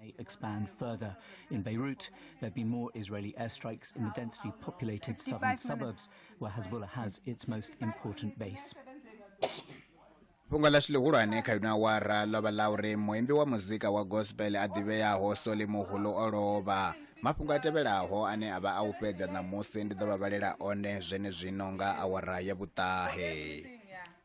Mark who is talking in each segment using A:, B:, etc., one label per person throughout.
A: may expand further. In Beirut, there have been more Israeli airstrikes in the densely populated southern suburbs, where Hezbollah has its most important base.
B: fhungo ḽashu ḽihulwane kha ino awara ḽo vha ḽa uri muimbi wa muzika wa gospel a ḓivheaho soli muhulu o lovha mafhungo a tevhelaho ane a vha a u fhedza ṋamusi ndi ḓo vha vhalela one zwenezwino nga awara ya vhuṱahe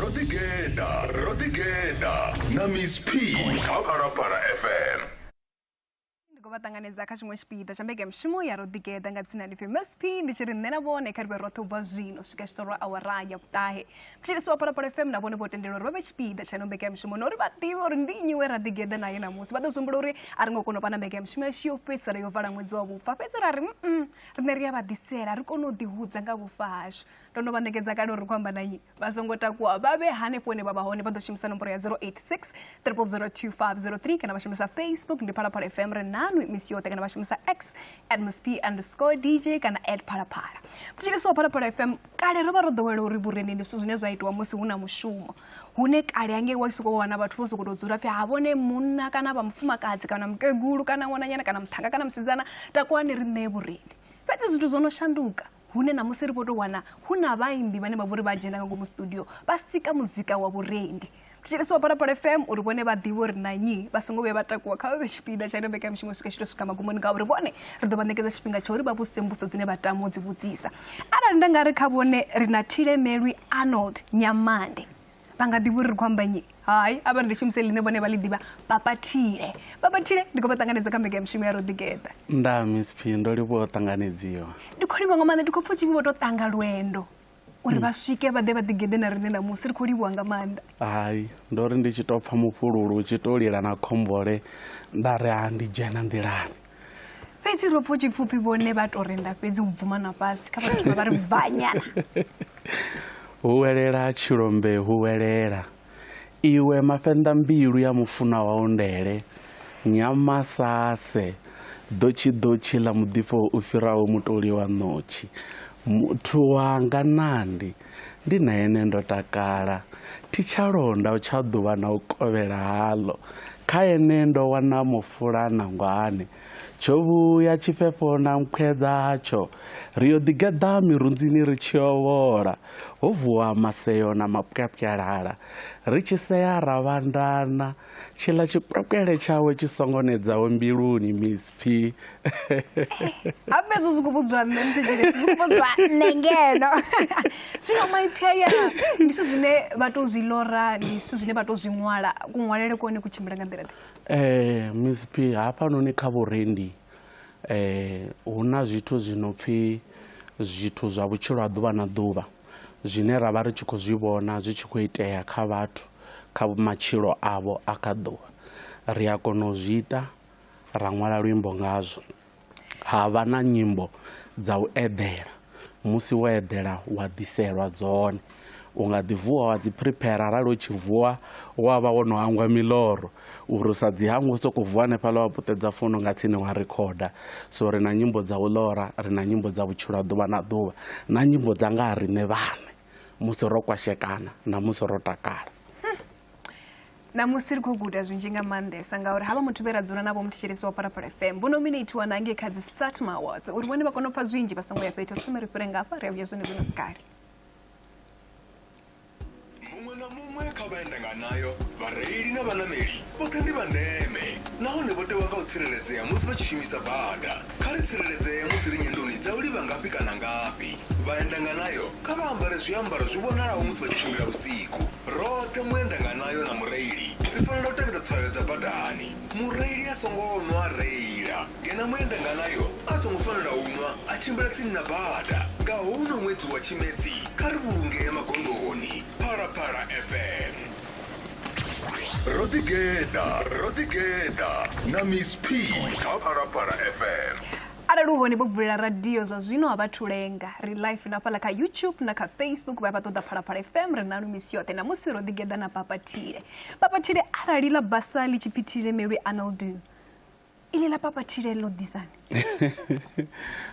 C: Rodigeda, Rodigeda, na Miss P, Aparapara FM. ndi khou vha ṱanganedza
D: kha tshiṅwe tshipiḓa tsha mbekanyamushumo ya roḓigeḓa nga dzina lifhi msp ndi tshi ri nṋe na vhone kha ri vhe roṱhe u bva zwino u swika tshiṱoro awara ya vhuṱahe thetshelesi wa phalaphala fm na vhone vho tendelwa uri vha vhe tshipiḓa tsha ino mbekanyamushumo na uri vha ḓivhe uri ndi nnyi we raḓigeḓa naye ṋamusi vha ḓo zwihumbula uri a ri ngo kona u vha na mbekanyamushumo yashu yo fhedzisela yo vala ṅwedzi wa vhufa fhedzi ra ri mm riṋe ri a vha ḓisela ri kone u ḓihudza nga vhufa hashu ndo no vha ṋekedza kale uri khou amba na nnyi vha songo takuwa vha vhe hanefho hune vha vha hone vha ḓo shumisa nomboro ya 086 002503 kana vha shumisa facebook ndi phalaphala fm ri nanu misi yoṱhe kana vha shumisa x at msp underscore dj kana at phalaphala thetshelesi wa phalaphala fm kale ro vha ro ḓowela uri vhurendi ndi zwithu zwine zwa itiwa musi hu na mushumo hune kale angei wa sokou wana vhathu vho sokou tou dzula pfhi ha vhone munna kana vha mufumakadzi kana mukegulu kana ṅwananyana kana muthanga kana musidzana takuwani ri ṋee vhurendi fhedzi zwithu zwo no shanduka hune ṋamusi ri vho tou wana hu na vhaimbi vhane vha vho ri vha dzhena nga ngomu studio vha sika muzika wa vhurendi thetshelesi wa phalaphala fm uri vhone vha ḓivhe uri na nnyi vha songo vhuya vha takuwa kha vha vhe tshipiḓa tsha ino mbekanyamushumo swika tshi tou swika magumoni ngauri vhone ri ḓo vha ṋekedza tshifhinga tsha uri vha vhudzise mbuso dzine vha tama u dzi vhudzisa arali nda nga ri kha vhone ri na thilemelwi arnold nyamande vha nga ḓivha uri ri khou amba nyi hai a vha ri ndi shumise ḽine vhone vha ḽi ḓivha papathile papathile ndi khou vha ṱanganedza kha mbeka ya mishumo ya ro ḓigeḓa nda miss p
E: ndo livhuwa u ṱanganedziwa ndi khou livhuwa nga maanḓa ndi
D: khou pfa u tshivhi vho tou ṱanga lwendo uri vha swike vha ḓe vha ḓigeḓe na riṋe ṋamusi ri khou livhuwa nga maanḓa hai ndo
E: ri ndi tshi tou pfa mufhululu u tshi tou lila na khombole nda ri a ndi dzhena nḓilani fhedzi ro
D: pfo tshipfufhi vhone vha tou renda fhedzi u bvuma na fhasi kha vhathu vha ri bvanyana huwelela
E: tshilombe huwelela iwe mafhenḓa mbilu ya mufunwa wau ndele nyama sase ḓotshi ḓotshi ḽa muḓifho u fhiraho mutoli wa ṋotshi muthu wanga nandi Ndi na ene ndo takala, thi tsha londa u tsha ḓuvha na u kovhela haḽo. Kha ene ndo wana mufula na ngwane, tsho vhuya tshifhefho na nkhwe dzatsho. Ri yo ḓigeḓa mirunzini ri tshi yo vhola, ho vuwa maseo na mapwyapwyalala, ri tshi sea ra vhandana tshiḽa tshikwekele tshawe tshi songo nedzaho mbiluni miss p
D: a fhedzi zwi khou vhudzwa nṋe mthijile zwi khou vhudzwa nṋe ngeno zwino maipfi aya ndi zwithu zwine vha tou zwi lora ndi zwithu zwine vha tou zwi ṅwala kuṅwalele kone ku tshimbila nga nḓila ḓe um eh, miss
E: p hafhanoni kha vhurendi um hu na zwithu zwi no pfhi zwithu zwa vhutshilo ha ḓuvha na ḓuvha zwine ra vha ri tshi khou zwi vhona zwi tshi khou itea kha vhathu kha matshilo avho a kha ḓuvha ri a kona u zwi ita ra ṅwala luimbo ngazwo ha vha na nyimbo dza u eḓela musi wo eḓela wa ḓiselwa dzone u nga ḓi vuwa wa dzi prepare arali u tshi vuwa wa vha wo no hangwa miloro Uri u sa dzi hangwe u sokou vuwa hanefhaḽa wa puṱedza fono nga tsini wa rikhoda so ri na nyimbo dza u ḽora ri na nyimbo dza vhutshilo ha ḓuvha na ḓuvha na nyimbo dza nga ha riṋe vhaṋe musi ro kwashekana na musi ro takala ṋamusi
D: ri khou guda zwinzhi nga maanḓesa ngauri havha muthu vhe ra dzula navho muthetshelesi wa phalaphala fm vho nominatiwa na ngei kha dzi satma awards uri vhone vha kone u pfa zwinzhi vha songo ya fhethu ri thome ri fhire ngafha ri a vhuya zwone zwino sikale
C: Muṅwe na muṅwe kha vha ende nga nayo, vhareili na vhaṋameli vhoṱhe ndi vha ndeme nahone vho tewa nga u tsireledzea musi vha tshi shumisa bada. Kha ri tsireledzee musi ri nyendoni dza u livha ngafhi kana ngafhi. Vhaenda nga nayo kha vha ambare zwiambaro zwi vhonalaho musi vha tshi tshimbila vhusiku. Roṱhe muenda nga nayo na mureili ri fanela u tevhedza tswayo dza badani. Mureili a songo nwa a reila ngeno muendanganayo a songo fanela u nwa a tshimbila tsini na bada. Nga houno ṅwedzi wa Tshimedzi, kha ri vhulungee magondoni. Phalaphala FM. Ro ḓi geḓa, ro ḓi geḓa na Miss P kha Phalaphala FM. Arali
D: u hone vho vulela radio zwa zwino a vhathu lenga. Ri live na fhaḽa kha YouTube na kha Facebook vha vha ṱoḓa Phalaphala FM ri nanu misi yoṱhe. Namusi ro ḓi geḓa na Papa Thile. Papathile arali ḽa basa ḽi tshi pfi thile melwi anoldu ili ḽa papathile ḽo ḓisani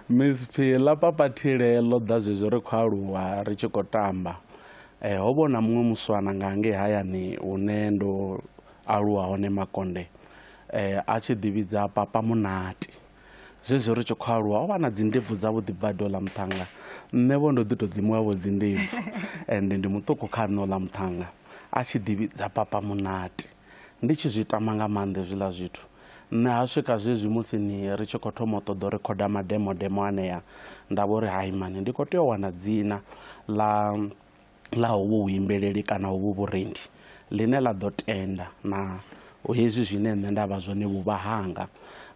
D: miss
E: phi ḽa papathile ḽo ḓa zwezwi ri khou aluwa ri tshi khou tamba um ho vhona muṅwe muswana nga ngei hayani hune ndo aluwa hone makonde um a tshi ḓivhidza papa munati Zwezwo ri tshi khou aluwa o vha na dzindebvu dzavhuḓi badi oḽa muṱhannga nṋe vho ndo ḓi tou dzimuwavho dzindebvu ende ndi muṱuku kha nṋe oḽa muṱhannga a tshi ḓivhidza papa munati ndi tshi zwi tama nga maanḓa hezwiḽa zwithu nṋe ha swika zwezwi musi ni ri tshi khou thoma u ṱoḓa u rikhoda mademodemo anea nda vho ri haimani ndi khou tea u wana dzina ḽa ḽa hovhu vhuimbeleli kana hovhu vhurendi ḽine ḽa ḓo tenda na hezwi zwine nṋe nda vha zwone vhuvha hanga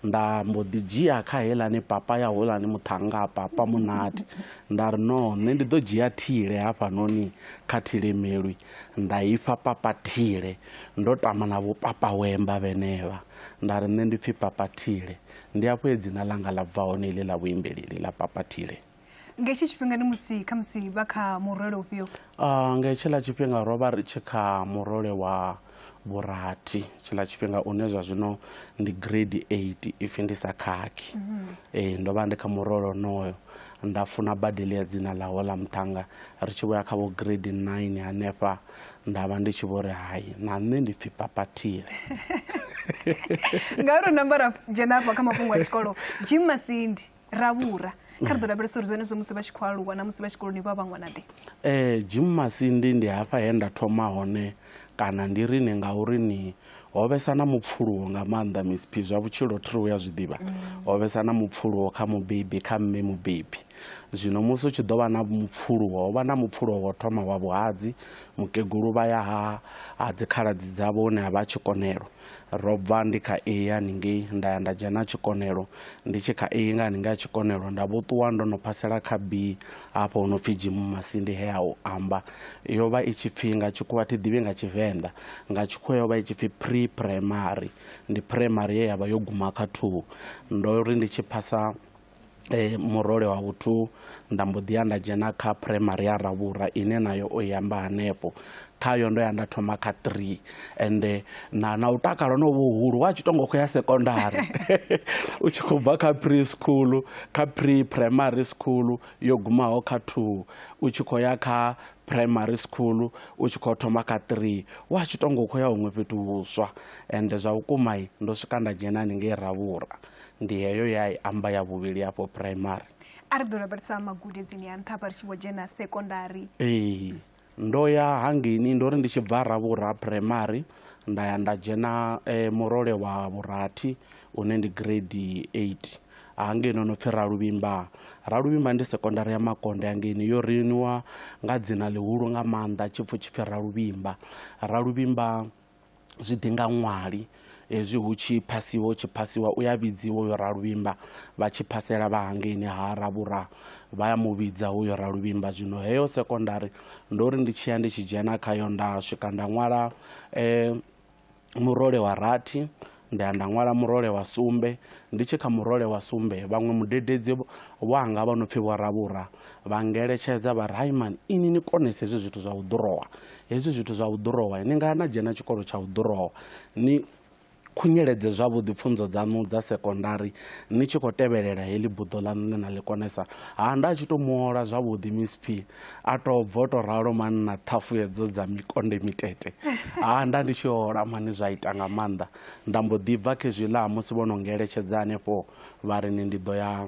E: nda mbo ḓi dzhia kha helani papa ya holani muṱhanga papa munati nda ri no nṋe ndi ḓo dzhia thile hafhanoni kha thilemelwi nda ifha papa thile ndo tama na vhupapa wemba vhenevha nda ri nṋe ndi pfhi papa thile ndi afho he dzina ḽanga ḽa bva hone iḽi ḽa vhuimbeleli ḽa papa thile nga hetshi tshifhinga
D: ni musi kha musi vha kha murole ufhio uh, nga hetshiḽa
E: tshifhinga ro vha ri tshi kha murole wa vhurathi tshiḽa tshifhinga une zwa zwino ndi grade eight ipfhi ndi sa khakhi mm -hmm. e, ndo vha ndi kha murole onoyo nda funa badeli ya dzina ḽa hola muṱhanga ri tshi vhoya kha vho grade nine hanefha nda vha ndi tshi vho ri hai na nṋe ndi pfhi papatile
D: ngauri u namba ra dzhena afha kha mafhungo a tshikolo jim masindi ra vhura kha ri ḓo lavhelesa uri zwenezwo musi vha tshi khou aluwa na musi vha tshikoloni vha vha ṅwanaḓe um eh, jim masindi
E: ndi hafha he nda thoma hone kana ndi ri ni ngauri ni ho vhesa na mupfuluwo nga maanḓa misphi zwa vhutshilo thiri u ya zwi ḓivha ho vhesa na mupfuluwo kha mubebi kha mme mubebi zwino musi u tshi ḓo vha na mupfuluwo ho vha na mupfuluwo wo thoma wa vhuhadzi mukegulu vha ya ha ha dzikhaladzi dzavho hune ha vha a tshikonelo Ro bva ndi kha iyi ya haningei nda ya nda dzhena tshikonelo. Ndi tshi kha iyi nga haningei ya tshikonelo nda vho ṱuwa ndo no phasela kha B hafho hu no pfi Jimu Masindi he a u amba. Yo vha i tshi pfi nga tshikhuwa thi ḓivhi nga Tshivenḓa. Nga tshikhuwa yo vha i tshi pfi pre-primary. Ndi primary ye ya vha yo guma kha thuu. Ndo ri ndi tshi phasa e, murole wa vhuthu nda mbo ḓi ya nda dzhena kha primary ya ravhura ine nayo o yamba hanefho khayo ndo ya nda thoma kha three ende na na u takala no vhuhulu wa tshi tongo khou ya sekondari u tshi khou bva kha pre school kha pre primary school yo gumaho kha two u tshi khou ya kha primary school u tshi khou thoma kha three wa tshi tongo khou ya huṅwe fhethu vhuswa ende zwa vhukumai ndo swika nda dzhena haningei ravhura ndi heyo ye a i amba ya vhuvhili afho primary a ri ḓo lavhelesa
D: magudedzini a nṱha vha ri tshi vho dzhena sekondari ee
E: ndo ya hangini ndo ri ndi tshi bva ravhura primary nda ya nda dzhena eh, murole wa vhurathi une ndi grade 8 hangei no no pfhi raluvhimba raluvhimba ndi sekondari ya makonde hangeini yo riniwa nga dzina ḽihulu nga maanḓa tshipfhu tshipfhi raluvhimba raluvhimba zwi ḓi nga ṅwali hezwi hu tshi phasiwa hu tshi phasiwa u ya vhidziwa uyo raluvhimba vha tshi phasela vha hangeini ha ravhura vha ya mu vhidza uyo raluvhimba zwino heyo sekondari ndo ri ndi tshi ya ndi tshi dzhena khayo nda swika nda ṅwala um murole wa rathi Nda ya nda ṅwala murole wa sumbe, ndi tshi kha murole wa sumbe, vhaṅwe mudededzi wanga vha no pfi Vho Ravhura vha ngeletshedza vha ri, Hai mani, inwi ni konese hezwi zwithu zwa u ḓurowa. Hezwi zwithu zwa u ḓurowa, ni nga ya na dzhena tshikolo tsha u ḓurowa, ni khunyeledze zwavhuḓi pfunzo dzaṋu dza sekondari ni tshi khou tevhelela heḽi buḓo ḽaṋu ḽe na ḽi konesa. Ha, nda tshi tou muola zwavhuḓi Miss P. a to bvo to ralo mani na ṱhafu hedzo dza mikonde mitete ha nda ndi tshi hola mani zwa ita nga maanḓa nda mbo ḓi bva khe zwi ḽa musi vho no ngeletshedza hanefho vha ri ni ndi ḓo ya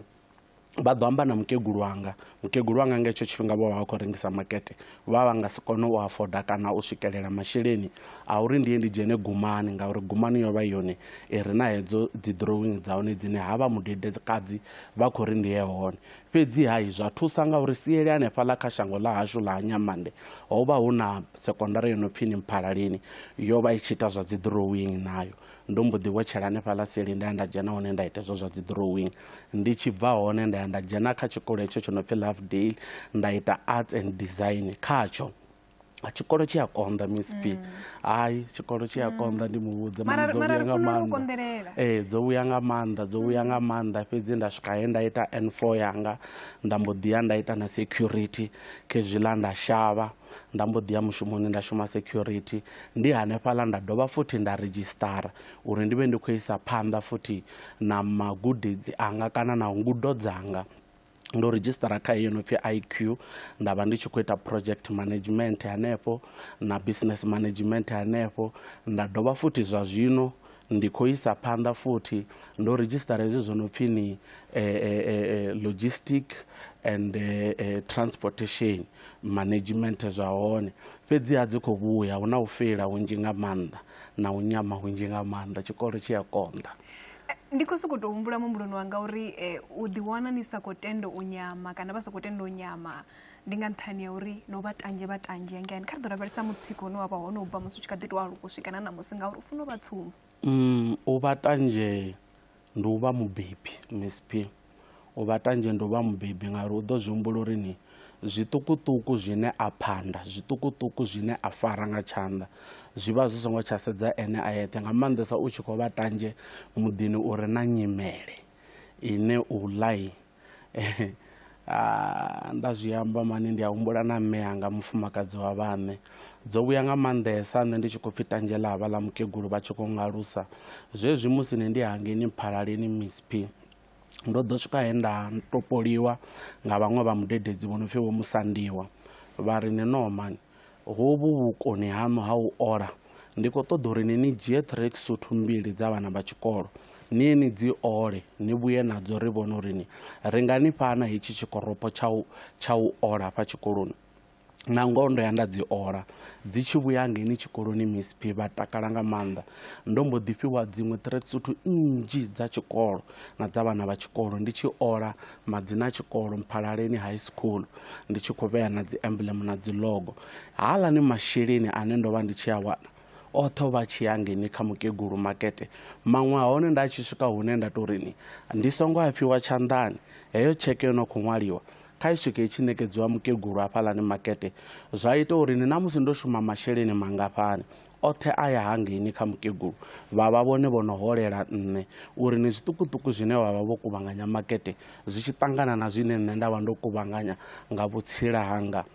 E: vha ḓo amba na mukegulu wanga mukegulu wanga nga hetsho tshifhinga vho vha vha khou rengisa makete vha vha nga si kone u afoda kana u swikelela masheleni a uri ndi ye ndi dzhene gumani ngauri gumani yo vha yone i re na hedzo dzi drawing dza hone dzine ha vha mudedekadzi vha khou ri ndi ye hone Fhedzi-ha izwi zwa thusa ngauri siele hanefhaḽa kha shango ḽa hashu ḽa ha Nyamande ho vha hu na sekondara yo no pfi ni Mphalaleni, yo vha i tshi ita zwa dziḓirowingi nayo. Ndo mbo ḓi vhotshela hanefhaḽa sieleni nda ya nda dzhena hone nda ita hezwo zwa dziḓirowingi. Ndi tshi bva hone nda ya nda dzhena kha tshikolo hetsho tsho no pfi Lovedale nda ita Arts and Design khatsho. tshikolo tshi a konḓa miss p mm. hayi tshikolo tshi a mm. konḓa ndi mu vhudza mara dzo vhuya nga
D: maanḓa
E: ee eh, dzo
D: vhuya nga
E: maanḓa dzo vhuya nga mm. maanḓa fhedzi nda swika he nda ita n four yanga nda mbo ḓi ya nda ita na security khezwiḽa nda shavha nda mbo ḓi ya mushumoni nda shuma security ndi hanefhaḽa nda dovha futhi nda redzhisitara uri ndi vhe ndi khou isa phanḓa futhi na magudedzi anga kana na ngudo dzanga ndo redzhisitara kha iyo no pfhi iq nda vha ndi tshi khou ita project management hanefho na business management hanefho nda dovha futhi zwa zwino ndi khou isa phanḓa futhi ndo redzhisitara hezwi zwo no pfhi ni eh, eh, eh, eh logistic and eh, eh, transportation management zwa hone fhedziha dzi khou vhuya hu na u feila hunzhi nga maanḓa na u nyama hunzhi nga maanḓa tshikolo tshi a konḓa ndi khou
D: sokou tou humbula muhumbuloni wanga uri um u ḓiwana ni sa khou tenda u nyama kana vha sa khou tenda u nyama ndi nga nṱhani ya uri no vha tanzhe vha tanzhe ngani kha ri ḓo lavhelesa mutsiko une wa vha hone u bva musi u tshi kha ḓi tou aluka u swika na ṋamusi ngauri u funa u vha tsumbo mm, u vha
E: tanzhe ndi u vha mubebi msp u vha tanzhe ndi u vha mubebi ngauri u ḓo zwi humbula uri ni zwiṱukuṱuku zwine a phanda zwiṱukuṱuku zwine a fara nga tshanḓa zwi vha zwi songo tsha sedza ene a yeṱhe nga maanḓesa u tshi khou vha tanzhe muḓini u re na nyimele ine u ḽai Ah, nda zwi amba mani ndi a humbula na mme anga mufumakadzi wa vhaṋe dzo vhuya nga maanḓesa nṋe ndi tshi khou pfhi tanzhela havha ḽa mukegulu vha tshi khou ngalusa zwezwi musi ni ndi hangeni mphalaleni misp ndo ḓo swika he nda topoliwa nga vhaṅwe vha mudededzi vho no pfhi vho Musandiwa vha ri ni no man hovhu vhukoni haṋu ha u ola ndi khou ṱoḓa uri ni ni dzhie track suthu mbili dza vhana vha tshikolo ni ni dzi ole ni vhuye nadzo ri vhone uri ni ri nga ni fhana hetshi tshikoropo tsha u tsha u ola hafha tshikoloni na ngoho ndo ya nda dzi ola dzi tshi vhuya ngeni tshikoloni misp vha takala nga maanḓa ndo mbo ḓi fhiwa dziṅwe threksuthu nnzhi dza tshikolo na dza vhana vha tshikolo ndi tshi ola madzina a tshikolo mphalaleni high school ndi tshi khou vhea na dzi emblem na dzi logo haalani masheleni ane ndo vha ndi tshi a wana oṱhe o vha tshi ya ngeni kha mukegulu makete maṅwe a hone nda tshi swika hune nda tou rini ndi songo a fhiwa tshanḓani heyo tsheke yo no khou ṅwaliwa kha isheke itshi ṋekedziwa mukegulu hafhaḽani makete zwa ita uri ni ṋamusi ndo shuma masheleni mangafhani oṱhe a ya hangeini kha mukegulu vha vha vhone vho no holela nṋe uri ni zwiṱukuṱuku zwine vha vha vho kuvhanganya makete zwi tshi ṱangana na zwine nṋe nda vha ndo kuvhanganya nga vhutsila hanga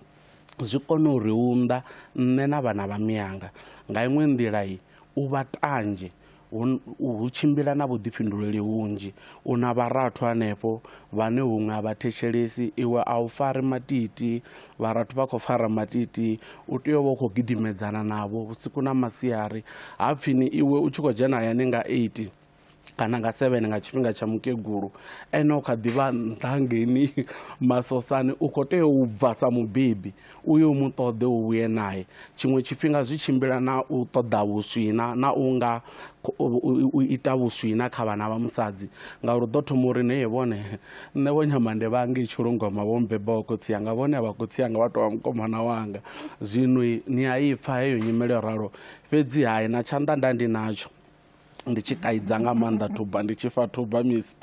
E: zwi kone u ri unḓa nṋe na vhana vha miyanga nga iṅwe nḓila i u vha tanzhe hu tshimbila na vhuḓifhinduleli hunzhi u na vharathu hanefho vhane huṅwe a vha thetshelesi iwe a u fari matiti vharathu vha khou fara matiti u tea u vha u khou gidimedzana navho vhusiku na masiari ha pfini iwe u tshi khou dzhena hayani nga 8 kana nga 7 nga tshifhinga tsha mukegulu ene u kha ḓivha nṱha ngeni masosani u khou tea u bva sa mubebi uyo mu ṱoḓe u vhuye nae tshiṅwe tshifhinga zwi tshimbila na u ṱoḓa vhuswina na u nga u ita vhuswina kha vhana vha musadzi ngauri u ḓo thoma uri nee vhone nṋe vho nyamande vhange i tshulungoma vho mbeba wa khotsi anga vhone a vha khotsi anga vha tovha mukomana wanga zwino ni a ipfa heyo nyimele yo ralo fhedzi hai na tshanḓa nda ndi natsho ndi tshi kaidza nga maanḓa thuba ndi tshi fa thuba misp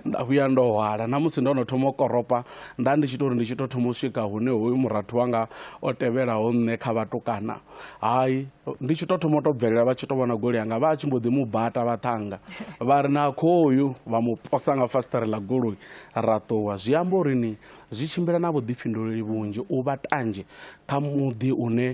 E: nda vhuya ndo hwala na musi ndo no thoma u koropa nda ndi tshi to uri ndi tshi to thoma u swika hune hoyu murathu wanga o tevhelaho nṋe kha vhatukana hai ndi tshi to thoma u to bvelela vha tshi to vhona goloi yanga vha a tshi mbo ḓi mu bata vha ṱhanga vha ri na khoyu vha mu posa nga fasiṱere ḽa goloi ra ṱuwa zwi amba uri ni zwi tshimbila na vhuḓifhinduleli vhunzhi u vha tanzhe kha muḓi une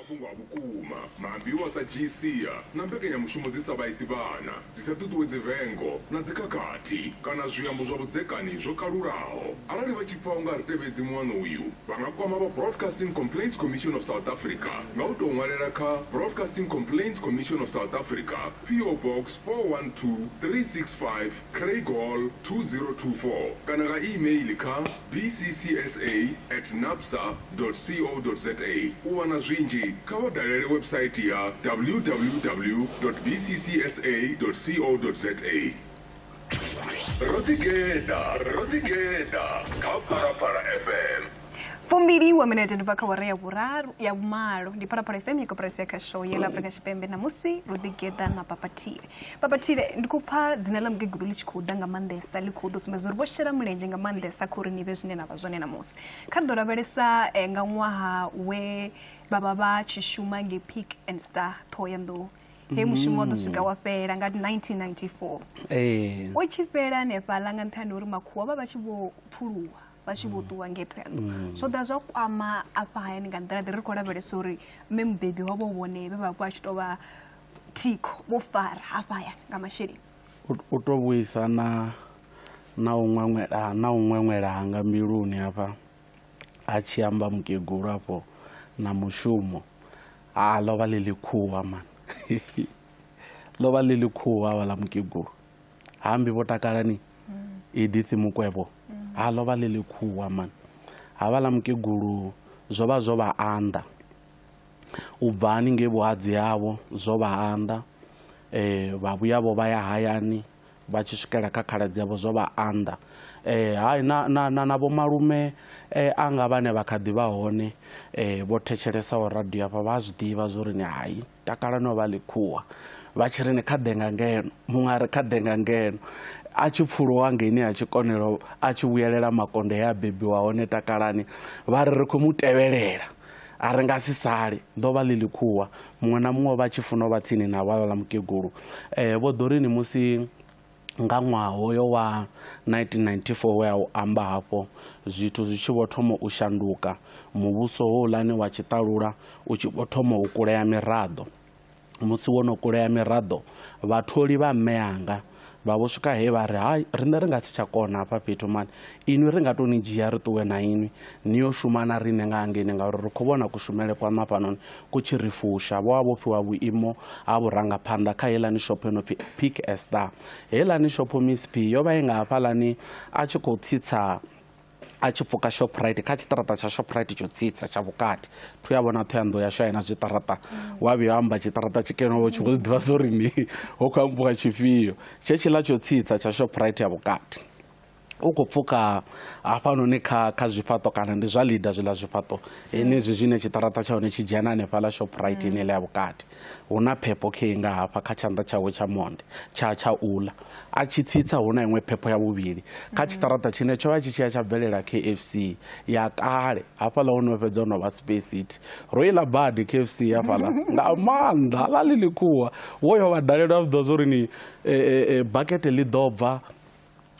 C: Mafhungo a vhukuma, maambiwa a sa dzhii sia, na mbekanyamushumo dzi sa vhaisi vhana, dzi sa ṱuṱuwedzi vengo na dzikhakhathi kana zwiambo zwa vhudzekani zwo kalulaho. Arali vha tshi pfa u nga a ri tevhedzi muano uyu, vha nga kwama vha Broadcasting Complaints Commission of South Africa nga u tou ṅwalela kha Broadcasting Complaints Commission of South Africa, PO Box 412365, Craighall 2024 kana nga e-mail kha bccsa at napsa dot co dot za. U wana zwinzhi, kha vha dalele website ya www dot bccsa dot co dot za. Ro ḓi geḓa, ro ḓi geḓa kha Phalaphala FM. Fumbili
D: wa minete ndi bva kha wara ya vhuraru ya vhumalo ndi Phalaphala FM ya koporasi ya Khasho ya ḽa Afrika Tshipembe ṋamusi ro ḓi geḓa na Papa Tie. Papa Tshile, ndi khou pfa dzina ḽa mukegulu ḽi tshi khou ḓa nga maanḓesa ḽi khou ḓo sumbedza uri vho shela mulenzhe nga maanḓesa kha uri ni vhe zwine na vha zwone ṋamusi kha ri ḓo lavhelesa eh, nga ṅwaha we vha vha vha tshi shuma nge pick and star ṱhoho ya nḓou he mushumo wa ḓo mm. swika wa fhela nga 1994 eh. o tshi fhela hanefhaḽa nga nṱhani uri makhuwa vha vha tshi vho phuluwa vha tshi vho mm. ṱuwa ngetho ya ḓo mm. zwo ḓa zwa kwama afha hayani nga nḓila ḓi ri khou lavhelesa uri mme mubebi wavho vhone vhe vha vha tshi tou vha thikho vho fara hafhaya nga masheleni u to
E: vhuisa na na u ṅweṅwela na u ṅweṅwela hanga mbiluni hafha a tshi amba mukegulu afho na mushumo ha ḽo vha ḽi ḽikhuwa mani ḽo vha ḽi ḽikhuwa vha ḽa mukegulu hambi vho takalani mm. edith mukwevho mm. ha ḽo vha ḽi ḽikhuwa mani ha vha ḽa mukegulu zwo vha zwo vha anḓa U bva haningei vhuhadzi havho zwo vha anḓa, vha vhuya vho vha ya hayani vha tshi swikela kha khaladzi yavho zwo vha anḓa. Hai na na na na vhomalume anga vhane vha kha ḓi vha hone vho thetshelesa radio hafha vha a zwi ḓivha zwo ri ni hai takala no vha ḽikhuwa vha tshi ri ni kha ḓe nga ngeno muṅwe a ri kha ḓe nga ngeno a tshi pfuluwa ngeini ha tshikonelo a tshi vhuyelela makonde he a bebiwa hone takalani vha ri ri khou mu tevhelela A ri nga si sale. Ḓo vha ḽi ḽikhuwa. Muṅwe na muṅwe o vha a tshi funa u vha tsini na hwalwa ḽa mukegulu. Eh, Vho Dorini musi nga ṅwaha hoyo wa 1994 we a u amba hafho, zwithu zwi tshi vho thoma u shanduka, muvhuso houḽani wa tshiṱalula u tshi vho thoma u kulea miraḓo. musi wo no kulea miraḓo vhatholi vha mme anga vha vho swika he vha ri hai riṋe ri nga si tsha kona hafha fhethu mani inwi ri nga tou ni dzhia ri ṱuwe na inwi ni yo shuma na riṋe nga hangeni ngauri ri khou vhona kushumele kwa mafhanoni ku tshi ri fusha vho vha vho fhiwa vhuimo ha vhurangaphanḓa kha helani shopho no pfi pick estar helani shopho miss p yo vha i nga hafhalani a tshi khou tsitsa a tshi pfuka shoprite kha tshiṱaraṱa tsha shoprite tsho tsitsa tsha vhukati thu ya vhona thoyandho yashu aina zwiṱaraṱa wa vhuya amba tshiṱaraṱa tshikenoo tshi khou zwi ḓivha zwo ri ni ho khou ambiwa tshifhio tshe tshiḽa tsho tsitsa tsha shoprite ya vhukati u khou pfuka hafhanoni kha kha zwifhaṱo kana ndi zwa lida zwiḽa zwifhaṱo henezwi zwine tshiṱaraṱa tsha hone tshi dzhena hanefhaḽa shoprite ine ḽa ya vhukati Hu na phepho khei nga hafha kha tshanḓa tshawe tsha monde tsha tsha ula. A tshi tsitsa hu na iṅwe phepho ya vhuvhili kha tshiṱaraṱa tshine tsho vha tshi tshi ya tsha bvelela KFC ya kale hafhaḽa ho no fhedza ho no vha Space City. Ro iḽa badi KFC hafhaḽa nga maanḓa ḽa ḽi ḽikhuwa wo yo vha dalela zwi ḓivha zwo ri ni eh, eh, eh, bakete ḽi ḓo bva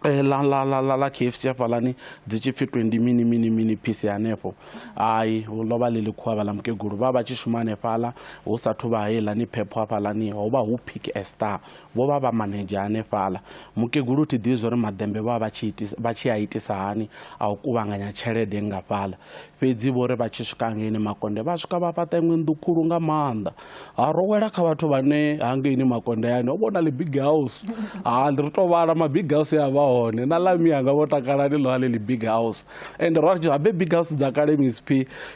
E: Eh, ḽa ḽa ḽa ḽa ḽa kfc hafhaḽani dzi tshi pfhi twenty mini mini mini piece hanefho ai ḽo vha ḽi ḽi khuwa vhaḽa mukegulu vha vha tshi shuma hanefhaḽa hu sathu vha heiḽani phepho hafhaḽani ho vha hu pick a star vho vha vha manedzha hanefhaḽa mukegulu thi ḓivhi zwa uri maḓembe vha vha vha tshi a itisa hani a u kuvhanganya tshelede ngafhaḽa fhedzi vho ri vha tshi swika ngeini makonde vha swika vha fhaṱa iṅwe nnḓu khulu nga maanḓa ha ro wela kha vhathu vhane hangeini makondeyani o vhona libig house ha ri to vhala mabig house ya vha hone na lami yanga vho takala ni ḽoale libig house and ro ri habe big house dza kale misp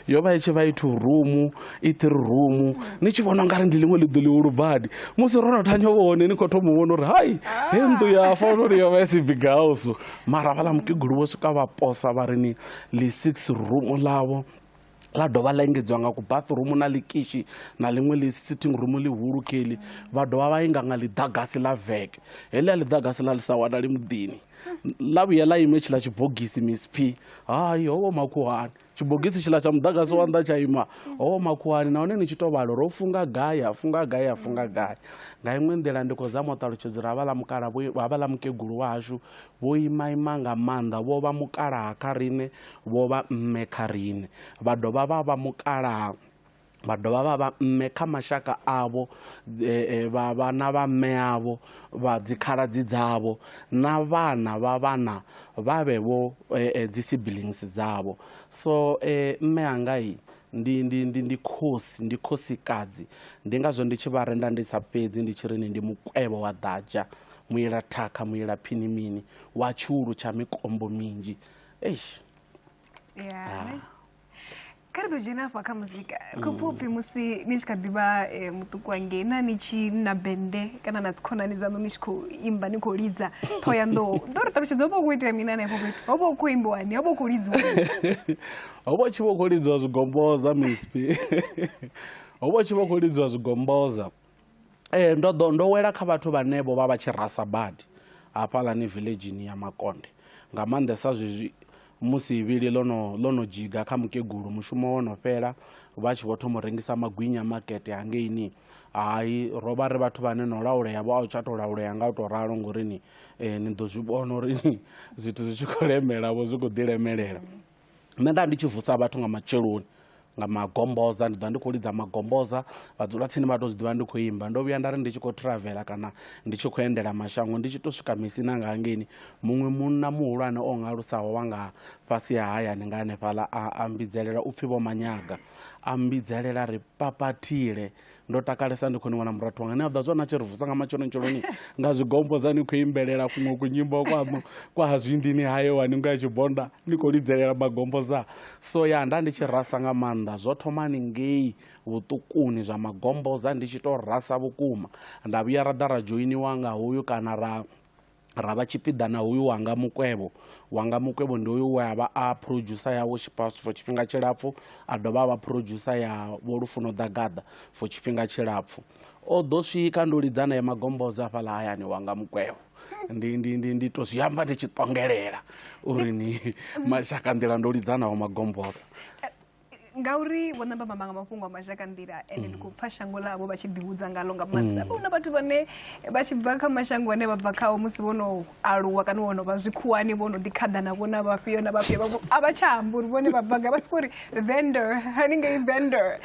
E: yo vha i tshi vha i two room i three room ni tshi vhona ungari ndi ḽiṅwe ḽiḓo ḽihulu badi musi ro no thanya vho hone ni khou thoma vhona uri hai he nnḓu ya fa uri yo vha isi big house mara vhaḽa mukegulu vho swika vha posa vha ri ni ḽi six room ḽavho ḽa dovha ḽa engedziwa nga kubaṱirumu na ḽikishi na ḽiṅwe ḽi sitting room ḽihulu keli vha dovha vha inga nga ḽiḓagasi ḽa veke heḽia ḽiḓagasi ḽa ḽi sa wanali muḓini ḽa vhuya ḽa inwe tshiḽa tshibogisi miss p hai howo makhuhani tshibogisi tshiḽa tsha muḓagasi wa nnḓa tsha ima howo makhuhani nahone ni tshi to vhalo ro funga gai ha funga gai ha funga gai nga iṅwe nḓila ndi khou zama u ṱalutshedza uri havha ḽa mukala havha ḽa mukegulu wa hashu Vho imaima nga maanḓa, vho vha mukalaha kha riṋe, vho vha mme kha riṋe, vha dovha vha vha mukalaha vha dovha vha vha mme kha mashaka avho, vha vha na vha mme avho, vha dzikhaladzi dzavho, na vhana vha vhana vha vhe vho dzi siblings dzavho. So mme anga i ndi ndi ndi ndi khosi ndi khosikadzi ndi ngazwo ndi tshi vha renda ndi sa fhedzi ndi tshi ri ni ndi mukwevho wa ḓadzha muila thakha muila phini mini wa tshulu tsha mikombo minzhi eish yeah. ah. kha
D: ri ḓo dzhena afha kha muzika kho pfha upfhi musi ni tshi kha ḓivha eh, muṱuku wangei na ni tshi na bende kana na dzikhonani dzaṋu ni tshi khou imba ni khou lidza ṱho ya nḓou ḓo ri ṱalutshedza ho vha u khou itea mina henefho fhethu ho vha u khou imbiwani ho vha u khou lidziwa
E: ho vha u tshi vha u khou lidziwa zwigomboza mispi ho vha u tshi vha u khou lidziwa zwigomboza eh, ndo ḓo ndo wela kha vhathu vhane vho vha vha tshi rasa badi hafhaḽani villagini ya makonde nga maanḓesa zwezwi musi ivhili ḽo no ḽo no dzhiga kha mukegulu mushumo wo no fhela vha tshi vho thoma u rengisa magwinya makete hangeini hai ro vha ri vhathu vhane no laulea vho a u tsha tou laulea nga u tou ralo ngori ni eh, ni ḓo zwi vhona uri ni zwithu zwi tshi khou lemelavho zwi khou ḓi lemelela nṋe nda ndi tshi vusa vhathu nga matsheloni nga magomboza ndi ḓovha ndi khou lidza magomboza vha dzula tsini vha to zwiḓivha ndi khou imba ndo vhuya nda ri ndi tshi khou travel kana ndi tshi khou endela mashango ndi tshi to swika misina nga hangeini muṅwe munna muhulwane o ngalusaho wa nga fhasi ha hayani nga hanefhaḽa a mbidzelela upfhi vho manyaga a mbidzelela ri papathile ndo takalesa ndi khou ni wana murathu wanga ni a ḓa zwa na tshi ri vusa nga matshonotsholoni nga zwigombo dza ni khou imbelela kuṅwe kunyimbo kwaṋu kwa ha zwindini hayo wa ningo ya tshibonda ni khou lidzelela magombo sa so ya nda ndi tshi rasa nga maanḓa zwo thoma ni ngei vhuṱukuni zwa magombo za ndi tshi tou rasa vhukuma nda vhuya ra ḓa ra dzhoiniwa nga hoyu kana ra ra vha tshipiḓa na hoyu wanga mukwevho wanga mukwevho ndi hoyu we a vha a producer ya worship house for tshifhinga tshilapfhu a dovha a vha producer ya vho lufuno ḓagaḓa for tshifhinga tshilapfhu o ḓo swika ndo lidza naye magombodzo afhaḽa hayani wanga mukwevho ndi ndi ndi ndi to zwi amba ndi tshi ṱongelela uri ni mashaka nḓila ndo lidzanaho magombosa
D: ngauri vho namba mamba nga mafhungo a mashaka nḓila ende ndi mm. khou pfa shango ḽavho vha tshi ḓihudza ngalo nga maanḓa mm. huna vhathu vhane vha tshi bva kha mashango ane vha bva khao musi vho no aluwa kana vho no vha zwikhuwani vho no ḓikhaḓa na vhona vhafhio na vhafhio vhavho a vha tsha amba uri vhone vha bva gai vha siko uri vendor haningei vendor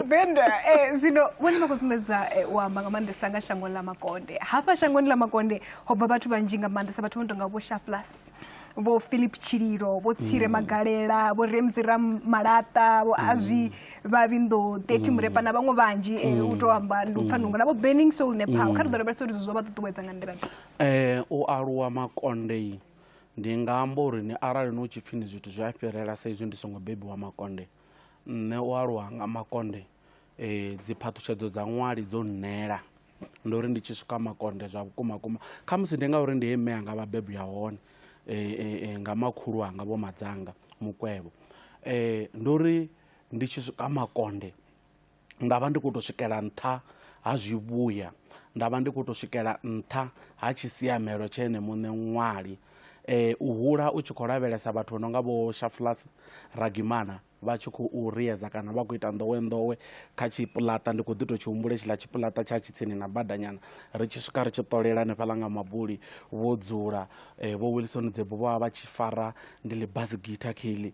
D: vendor eh, zwino vhone vha khou sumbedza eh, u amba nga maanḓesa nga shangoni ḽa makonde hafha shangoni ḽa makonde ho bva vhathu vhanzhi nga maanḓesa vhathu vho no tonga vho shaflas vho philip tshililo vho tsire mm. magalela vho ramsey ram malaṱa vho azwi mm. vhavhindo 30 mm. murepa na vhaṅwe vhanzhi eh, u tou amba ndi u pfa nungo na vho burning soul nepal kha ri ḓo lavhelesa uri zwo vha ṱuṱuwedza nga nḓila um eh, u aluwa
E: makonde ndi nga amba uri ni arali no tshi pfhi ni zwithu zwi a fhirela sa izwi ndi songo bebiwa makonde nṋe u aluwa nga makonde E, dzi phaṱhutshedzo dza ṅwali dzo nnela ndo uri ndi tshi swika makonde zwa vhukuma kuma kha musi ndi ngauri ndi he mme anga vha bebi ya hone e, e, e, nga makhulu anga vho madzanga mukwevho e, ndo uri ndi tshi swika makonde nda vha ndi khou tou swikela nṱha ha zwivhuya nda vha ndi khou tou swikela nṱha ha tshisiamelo tshe ene muṋe ṅwali eh, u hula u tshi khou lavhelesa vhathu vho no nga vho shafulas ragimana vha tshi khou riedza kana vha khou ita nḓowenḓowe kha tshipuḽaṱa ndi khou ḓi tou tshi humbula tshiḽa tshipuḽaṱa tsha tshi tsini na badanyana ri tshi swika ri tshi ṱolela hanefhaḽa nga mabuli vho dzula eh, vho wilson dzebo vho vha vha tshi fara ndi ḽi bas guitar kheḽi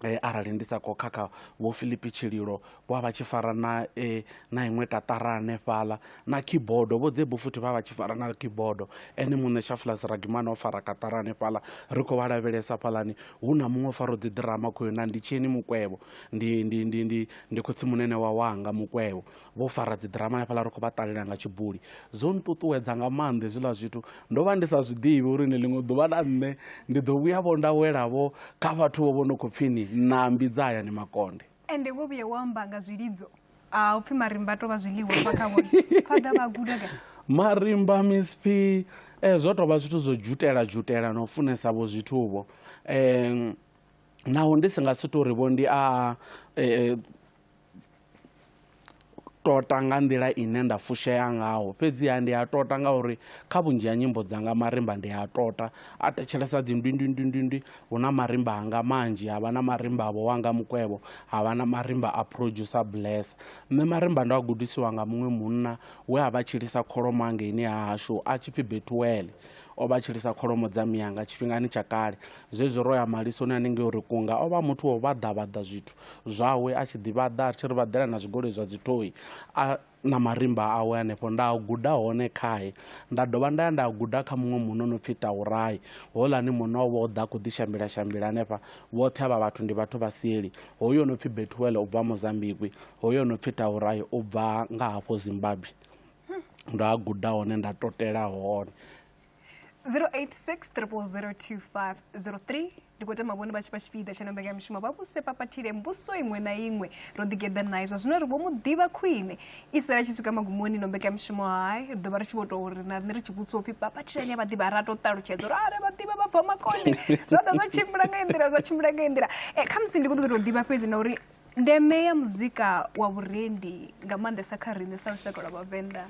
E: Eh, arali ndi sa khou khakha vho philipi tshililo wa vha tshi fara na e, na iṅwe tatara hanefhaḽa na keyboard vho dzebu futhi vha vha tshi fara na keyboard ene muṋe shaflas ragimana o fara katara hanefhaḽa ri khou vha lavhelesa fhalani hu na muṅwe o fara dzi ḓirama khoyo na ndi tsheni mukwevho ndi ndi ndi ndi ndi khotsi munene wa wanga mukwevho vho fara dzi ḓirama hanefhaḽa ri khou vha ṱalela nga tshibuli zwo nṱuṱuwedza nga maanḓa hezwiḽa zwithu ndo vha ndi sa zwi ḓivhi uri ni ḽiṅwe ḓuvha na nṋe ndi ḓo vhuya vho nda welavho kha vhathu vho vho no khou pfhi ni nambi dza hayani makonde ende wo vhuye wa amba
D: nga zwilidzo a u pfhi marimba to vha zwiḽiwa vha kha vhone fhaḓa vha guda ka marimba
E: misp um eh, zwo tovha zwithu zwo dzhutela dzhutela na u funesa vho zwithuvho um naho ndi si nga si tori vho ndi a eh, eh, tota nga nḓila ine nda fushea ngaho fhedziha ndi a tota ngauri kha vhunzhi ha nyimbo dzanga marimba ndi a tota a thetshelesa dzindwindwindwindwindwi hu na marimba anga manzhi ha vha na marimba avho wanga mukwevho ha vha na marimba a producer bless nṋe marimba ndo a gudisiwa nga muṅwe munna we a vha tshilisa kholomo angeini ha hashu a tshi pfhi betuwele O vha a tshi lisa kholomo dza mianga tshifhingani tsha kale. Zwezwi ro ya malisoni hanengei uri kunga, o vha a muthu wa u vhaḓa-vhaḓa zwithu zwawe, a tshi ḓi vhaḓa, a tshi ri vhaḓela na zwigoloi zwa dzithoi a na marimba awe hanefho. Nda a guda hone khae. Nda dovha nda ya nda a guda kha muṅwe munna o no pfi Taurai. Houḽani munna o vha o ḓa a khou ḓi shambila-shambila hanefha. Vhoṱhe avha vhathu ndi vhathu vha seli. Hoyu o no pfi Bethuel u bva Mozambikwi, hoyu o no pfi Taurai u bva nga hafho Zimbabwe. ndo a guda hone nda totela hone 0860002503
D: ndi khou tama vhone vha tshi vha tshipiḓa tsha nonḓa nga mishumo vha vhuse papathile mbuso iṅwe na iṅwe ro ḓigeḓa naye zwa zwino ri vho mu ḓivha khwine i sala tshi swika magumoni no mbeka mishumo hayi ḓovha ri tshi vho tou ri na nṋe ri tshi vhudziwa upfhi papathilani ya vha ḓivha ra to ṱalutshedza uri are vha ḓivha vha bva makone zwa ḓa zwa tshimbila nga nḓila zwa tshimbila nga nḓila e, khamusi ndi khou ṱoḓa tou ḓivha fhedzi na uri Ndeme ya muzika wa vhurendi nga maanḓesa kha riṋe sa lushaka lwa vhavenḓa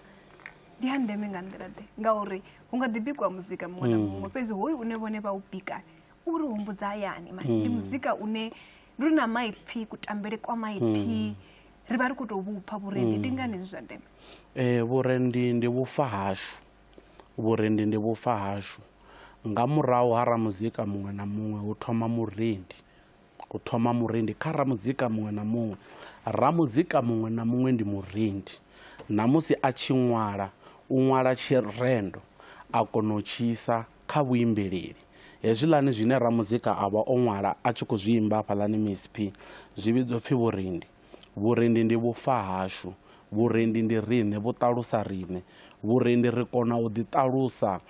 D: ndi ya ndeme nga nḓila ḓe ngauri hu nga ḓi bikiwa muzika muṅwe na mm. muṅwe fhedzi hoyu une vhone vha u bika u ri humbudza hayani mani ndi mm. muzika une ndi ri na maipfhi kutambele kwa maipfhi mm. ri vha ri khou tou vhupfa vhurendi ndi ngani zwi zwa ndeme um vhurendi
E: ndi vhufa hashu vhurendi ndi vhufa hashu nga murahu ha ramuzika muṅwe na muṅwe hu thoma murendi u thoma murindi kha ramuzika muṅwe na muṅwe ramuzika muṅwe na muṅwe ndi murindi na musi a tshi ṅwala u ṅwala tshirendo a kona u tshi isa kha vhuimbeleli hezwiḽani zwine ramuzika a vha o ṅwala a tshi khou zwi imba hafhaḽani misp zwi vhidzwa pfhi vhurindi vhurindi ndi vhufa hashu vhurendi ndi riṋe vhu ṱalusa riṋe vhurendi ri kona u ḓi ṱalusa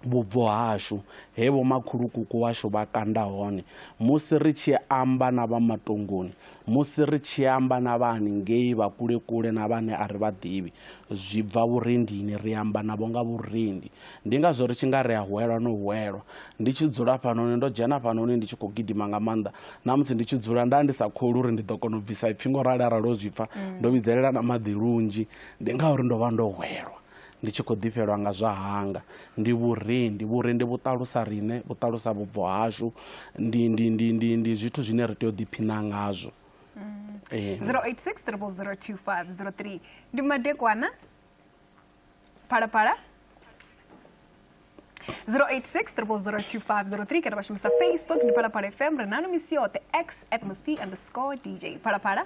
E: vhubvo hashu, he vhomakhulukuku washu vha kanda hone, musi ri tshi amba na vha matongoni, musi ri tshi amba na vha haningei vha kule-kule na vhane a ri vha ḓivhi, zwi bva vhurendini, ri amba navho nga vhurendi. Ndi ngazwo ri tshi nga ri a hwelwa no hwelwa. Ndi tshi dzula fhanoni, ndo dzhena fhanoni ndi tshi khou gidima nga maanḓa. Na musi ndi tshi dzula, nda ndi sa kholi uri ndi ḓo kona u bvisa ipfi ngo rali arali o zwi pfa. Ndo vhidzelela na maḓi lunzhi, ndi ngauri ndo vha ndo hwelwa. ndi tshi khou ḓifhelwa nga zwa hanga ndi vhurendi vhurendi vhu ṱalusa riṋe vhu ṱalusa vhubvo hashu ndi ndi ndi ndi ndi zwithu zwine ri tea u ḓiphina ngazwo 0860002503
D: ndi madekwana phalaphala 0860002503 kana vha shumisa facebook ndi phalaphala fm ri nano misi yoṱhe x atmosphere underscore dj phalaphala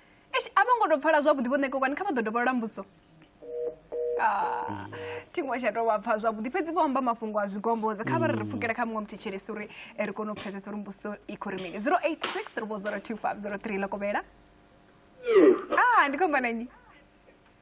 D: Eish, a vho ngo tou pfala zwavhuḓi vho ṋekekwani kha vha ḓo dovholola mbudziso Ah, thi ngo tsha tou vha pfha zwavhuḓi fhedzi vho amba mafhungo a zwigombodza kha vha ri ri pfukela kha muṅwe muthetshelesi uri eh, ri kone u pfesesa uri mbudziso i khou ri mini 086 3 025 03 ḽa kovhela ah ndi khomba na nnyi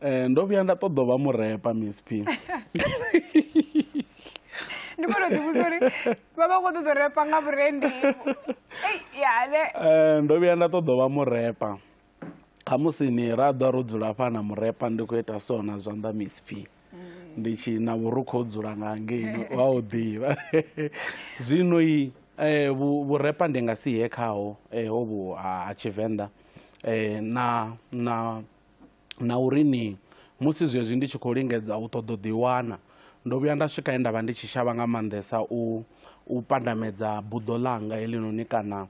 E: Eh, ndo vhuya nda ṱoḓa u vha murepa msp
D: ndi kone u ḓivhusa uri vha vha khou ṱoḓa u repa nga vhurendi yane Eh,
E: ndo vhuya nda ṱoḓa u vha murepa khamusi ni ra ḓa ro dzula hafha na murepa ndi khou ita so na zwanḓa msp ndi tshi na vhurukhu ho dzula nga ngeini wa u ḓivha zwino i eh, vhu- vhurepa ndi nga si ye khaho eh, hovhu ha ha tshivenḓa eh, na na na uri ni musi zwezwi ndi tshi khou lingedza u ṱoḓa u ḓiwana, ndo vhuya nda swika he nda vha ndi tshi shavha nga maanḓesa u u pandamedza buḓo ḽanga heḽinoni kana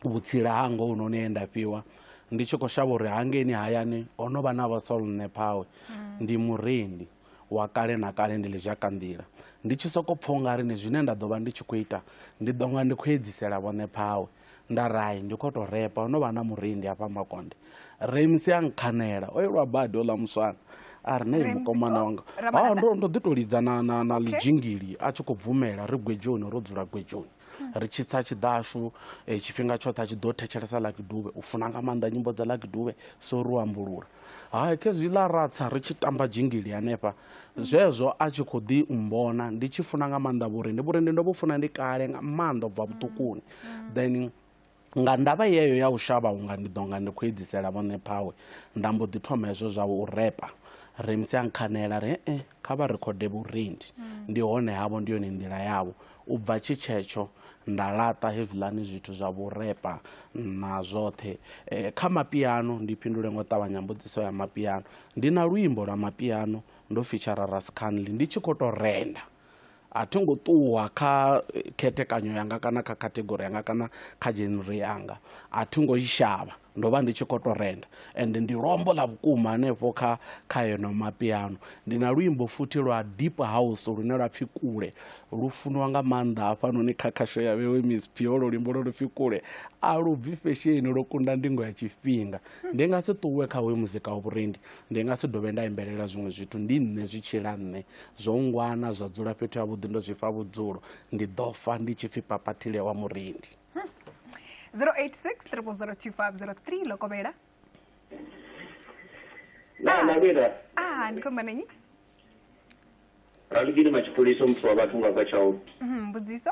E: vhutsila hanga hovhunoni he nda fhiwa ndi tshi khou shavha uri hangeini hayani ho no vha na vha Saul nṋe phawe ndi murendi wa kale na kale ndi lizhaka nḓila ndi tshi sokou pfha u nga ri ni zwine nda ḓo vha ndi tshi khou ita ndi ḓo nga ndi khou edzisela vhone phawe Ndarai, ndi khou tou repa, ho no vha na murendi hafha Makonde. Remusi a nkhanela, o elwa badi oḽa muswana. A ri, Nei mukomana wanga. Ha, ndo, ndo ḓi tou lidza na, na, na ḽidzhingili a tshi khou bvumela ri gwedzhoni, ro dzula gwedzhoni. Ri tshi tsa tshiḓashu eh, tshifhinga tshoṱhe a tshi ḓo thetshelesa Lucky Dube. U funa nga maanḓa nyimbo dza Lucky Dube, so ri u ambulula. Hai, khezwi ḽa ratsa ri tshi tamba dzhingili hanefha, zwezwo a tshi khou ḓi mmbona ndi tshi funa nga maanḓa vhurendi. Vhurendi ndo vhu funa ndi kale nga maanḓa u bva vhuṱukuni. Then nga ndavha yeyo ya u shavha unga ndi ḓo nga ndi khou edzisela vhoṋe phawe, nda mbo ḓi thoma hezwo zwa u repa. Ramsey a nkhanela a ri, He-e, kha vha rekhode vhurendi mm. ndi hone havho ndi yone nḓila yavho u bva tshi tshetsho nda laṱa hezwiḽani zwithu zwa vhurepa na zwoṱhe e, kha mapiano ndi fhindule ngo ṱavhanya mbudziso ya mapiano ndi na luimbo lwa mapiano ndo fitshara rascanly ndi tshi khou tou renda A thi ngo ṱuwa kha khethekanyo yanga kana kha category yanga kana kha genre yanga, a thi ngo i shavha ndo vha ndi tshi khou tou renda and ndi lwombo ḽa vhukuma hanefho kha kha eno mapiano. Ndi na luimbo futhi lwa deep house lune lwa pfhi Kule lu funiwa nga maanḓa hafhanoni kha khasho ya Vhewe mcp, holwo luimbo lwo no pfhi Kule a lu bvi fesheni lwo kunda ndingo ya tshifhinga. Ndi nga si ṱuwe kha hoyu muzika wa vhurendi ndi nga si dovhe nda imbelela zwiṅwe zwithu ndi nṋe zwi tshila nṋe zwo ngwana zwa dzula fhethu ha vhuḓi ndo zwi fha vhudzulo ndi ḓo fa ndi tshi pfhi papathile wa murendi 086 3002503
D: lokovhela
F: na na vhela ah ndi khomba
D: nenyi ralugile
F: matshipholisa muthu wa vhathu nga bva tshau Mhm, mbudziso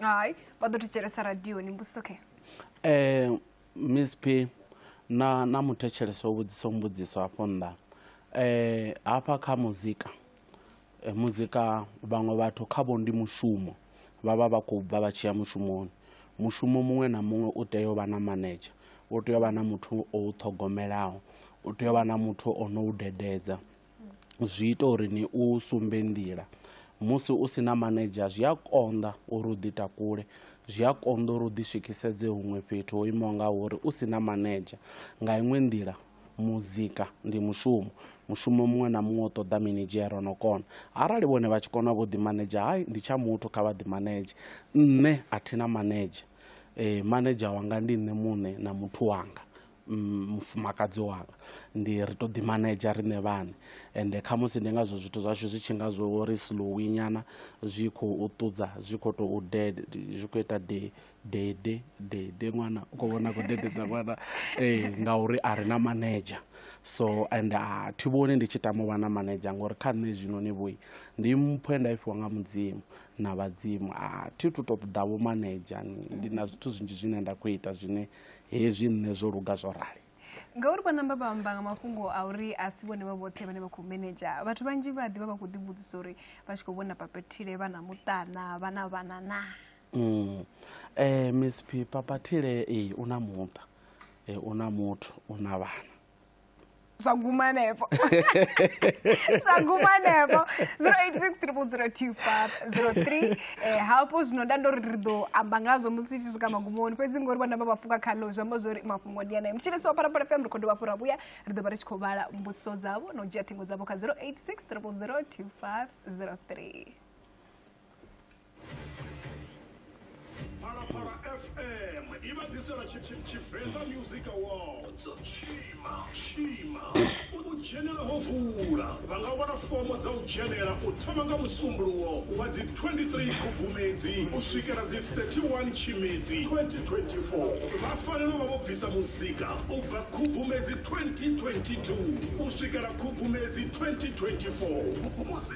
F: hai
D: vha ḓo thetshelesa radioni mbudziso khe um
E: miss p na na muthetshelesi o vhudzisa mbudziso hafho nnḓa um hafha kha muzika eh, muzika vhaṅwe vhathu khavho ndi mushumo vha vha vha khou bva vha tshi ya mushumoni mushumo muṅwe na muṅwe u tea u vha na manedzha u tea u vha na muthu o u ṱhogomelaho u tea u vha na muthu o no u dededza zwi ita uri ni u sumbe nḓila musi u si na manedzha zwi a konḓa uri u ḓi takule zwi a konḓa uri u ḓi swikhisedze huṅwe fhethu ho imaho nga uri u si na manedzha nga iṅwe nḓila muzika ndi mushumo mushumo muṅwe na muṅwe u ṱoḓa minidzhere o no kona arali vhone vha tshi kona vho ḓi manedzha hai ndi tsha muthu kha vha ḓi manedzhe nṋe a thi na manedzha um manedzha wanga ndi nṋe muṋe na muthu wanga Mm, mufumakadzi wanga ndi ri to ḓi manedzha riṋe vhane ende khamusi ndi ngazwo zwithu zwashu zwi tshi nga zwo ri slowi nyana zwi khou ṱudza zwi khou tou dede zwi khou ita de dede dede ṅwana u khou vhona khou dededza ṅwana ee eh, ngauri a ri na manedzha so and a ah, thi vhoni ndi tshi tama u vha na manedzha ngori kha nṋe zwino ni vhoi ndi mpho nda ifhiwa nga mudzimu na vhadzimu a ah, thi thu to ṱoḓa vho manedzha ndi na zwithu zwinzhi zwine nda khou ita zwine hezwi nṋe zwo luga zwo rali ngauri vha namba
D: vha amba nga mafhungo a uri a si vhone vha vhoṱhe vhane vha khou manager vhathu vhanzhi vha ḓivha vha khou ḓivhudzisa uri vha tshi khou vhona papathile vha na muṱana vha na vhana na um eh, miss
E: p papathile ee u na muṱa um u na muthu u na vhana zwa
D: guma hanefho zwa guma hanefho 0860002503 eh hafho zwino nda ndo ri ri ḓo amba ngazwo musi tshi swika magumoni fhedzi ngori vhana vha vhafuka khalo zwi amba zwori mafhungo ndi anayo mutshilisi wa phalaphala fm ri khou dovha fhura vhuya ri ḓo vha ri tshi khou vhala mbudziso dzavho na u dzhia ṱhingo dzavho kha 0860002503
C: phalaphala fm i vha ḓisela tshi- tshi- tshivenḓa music awards tshima tshima u dzhenela ho vula vha nga wana fomo dza u dzhenela u thoma nga musumbuluwo wa dzi 23 khubvumedzi u swikela dzi 31 tshimedzi 2024 vha fanela u vha vho bvisa muzika u bva khubvumedzi 2022 u swikela khubvumedzi 2024 Musi-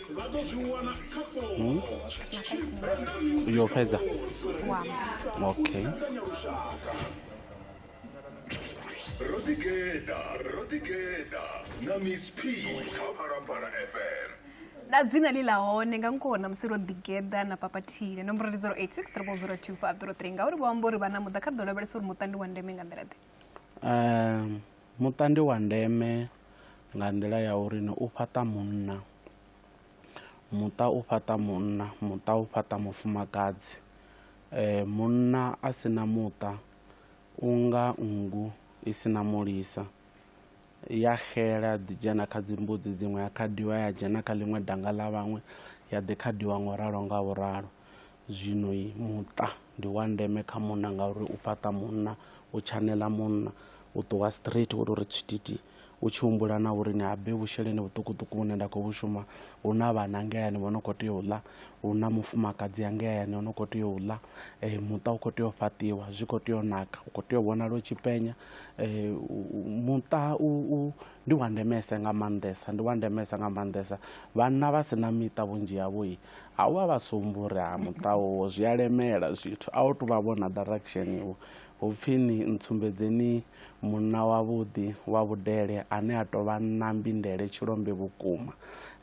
E: vha ḓo zwi wana kha fomo hmm? yo fhedza okay
C: ro ḓigeḓa ro ḓigeḓa na miss p kha phalaphala fm na dzina
D: ḽi ḽa hone nga nkona musi ro ḓigeḓa na papathile nomboro ndi 086 302 ngauri vho amba uri vha na muḓa kha ri ḓo lavhelesa uri muṱa ndi wa ndeme nga nḓila ḓe um Muṱa
E: ndi wa ndeme nga nḓila ya uri ni u fhaṱa munna, muṱa u fhaṱa munna, muṱa u fhaṱa mufumakadzi. Munna a si na muṱa u nga nngu i si na mulisa, i ya xela ya ḓi dzhena kha dzi mbudzi dziṅwe ya khadiwa ya dzhena kha ḽiṅwe danga ḽa vhaṅwe ya ḓi khadiwa nga u ralo nga u ralo. Zwino muṱa ndi wa ndeme kha munna ngauri u fhaṱa munna, u tshaneḽa munna, u ṱuwa straight wo tou ri tswititi u tshi humbula na uri ni habe vhusheleni vhuṱukuṱuku vhune nda khou vhu shuma, hu na vhana ngei hayani vho no khou tea u ḽa, hu na mufumakadzi hangei hayani o no khou tea u ḽa. Muṱa u khou tea u fhaṱiwa, zwi khou tea u naka, u khou tea u vhonala u tshi penya. Muṱa u u ndi wa ndemesa nga maanḓesa, ndi wa ndemesa nga maanḓesa. Vhanna vha si na miṱa vhunzhi havho Ha wa vha sumburi ha muṱa wowo zwi a lemela zwithu a u tu vha vhona direction iwo hupfi ni ntsumbedzeni munna wavhuḓi wa vhudele ane a tou vha na mbindele tshilombe vhukuma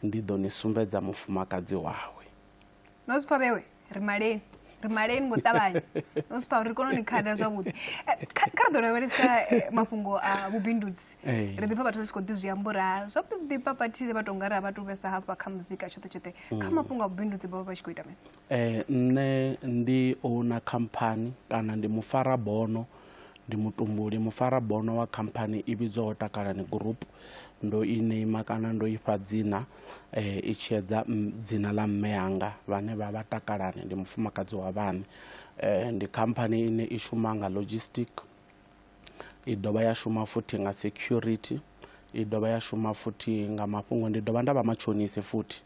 E: ndi ḓo ni sumbedza mufumakadzi wawe no zwi pfa
D: vhewe ri maleni ri maleni ngo ṱavhanya no zwi pfa uri ri kone u ni khada zwavhuḓi Eh, kha kha ri ḓo lavhelesa eh, mafhungo a vhubindudzi Hey. ri ḓipfa vhathu ri tshi khou ḓi zwi ambura zwavhuḓi ḓipfa vhathile vha tonga ri a vha tu vhesa hafha kha muzika tshoṱhe tshoṱhe mm. kha mafhungo a vhubindudzi vhavha vha tshi khou ita mini eh, nṋe
E: ndi ouna khamphani kana ndi mufara bono ndi mutumbuli mufara bono wa khamphani i vhidzwaho takalani group ndo i neima kana ndo ifha dzina eh, i tshiedza dzina ḽa mme yanga vhane vha vha takalani ndi mufumakadzi wa vhane eh, ndi khamphani ine i shuma nga logistic i dovha ya shuma futhi nga security, i dovha ya shuma futhi nga mafhungo ndi dovha nda vha matshonise futhi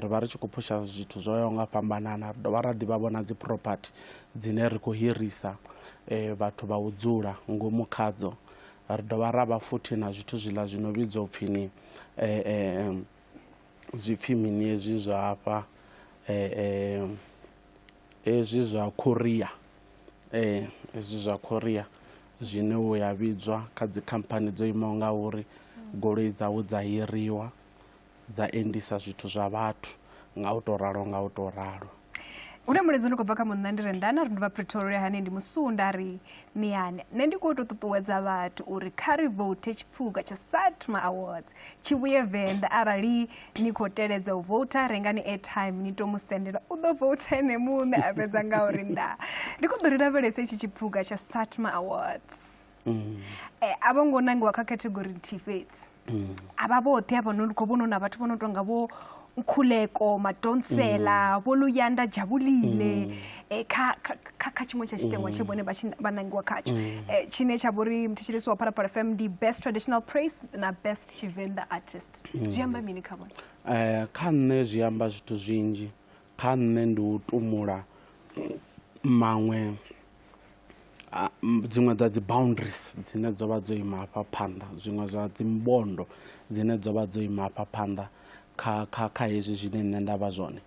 E: ri vha ri tshi khou phusha zwithu zwo yaho nga fhambanana ri dovha ra ḓivha vhona dzi property dzine ri khou hirisa vhathu vha u dzula ngomu khadzo ri dovha ra vha futhi na zwithu zwiḽa zwino vhidzwa upfhi ni zwipfhi mini hezwi zwa hafha . hezwi zwa Korea eh hezwi zwa Korea zwine u ya vhidzwa kha dzi khamphani dzo imaho nga uri goloi dzavho dza hiriwa dza endisa zwithu zwa vhathu nga u to ralo nga u to ralo hu na mulaedza
D: ndi khou bva kha munna ndi re ndana ri ndi vha pretoria hane ndi musunda ri miyane nṋe ndi khou tou ṱuṱuwedza vhathu uri kha ri vote tshiphuga tsha satma awards tshi vhuye venḓa arali ni khou teledza u vouta rengani airtime ni to mu sendela u ḓo vouta ene muṋe a fhedza nga uri nda ndi khou ḓo ri lavhelese itshi tshiphuga tsha satma awards mm. e, a vho ngo nangiwa kha category nthihi fhedzi mm. a vha vhoṱhe avha no khou vhono na vhathu vho no tonga vho nkhuleko madonsela mm. vho luyanda dzhavhulile mm. eh, kha tshiṅwe tsha tshitengwa tshe mm. vhone vha nangiwa khatsho mm. eh, tshine tsha vho ri muthetsheleso wa phalaphala fm ndi best traditional praise na best tshivenḓa artist mm. zwi amba mini kha vhone eh, kha nṋe
E: zwi amba zwithu zwinzhi kha nṋe ndi u tumula maṅwe a dziṅwe dza dzi boundaries dzine dzo vha dzo ima hafha phanḓa zwiṅwe zwa dzi mbondo dzine dzo vha dzo ima hafha phanḓa kha kha kha hezwi zwine nṋe nda vha zwone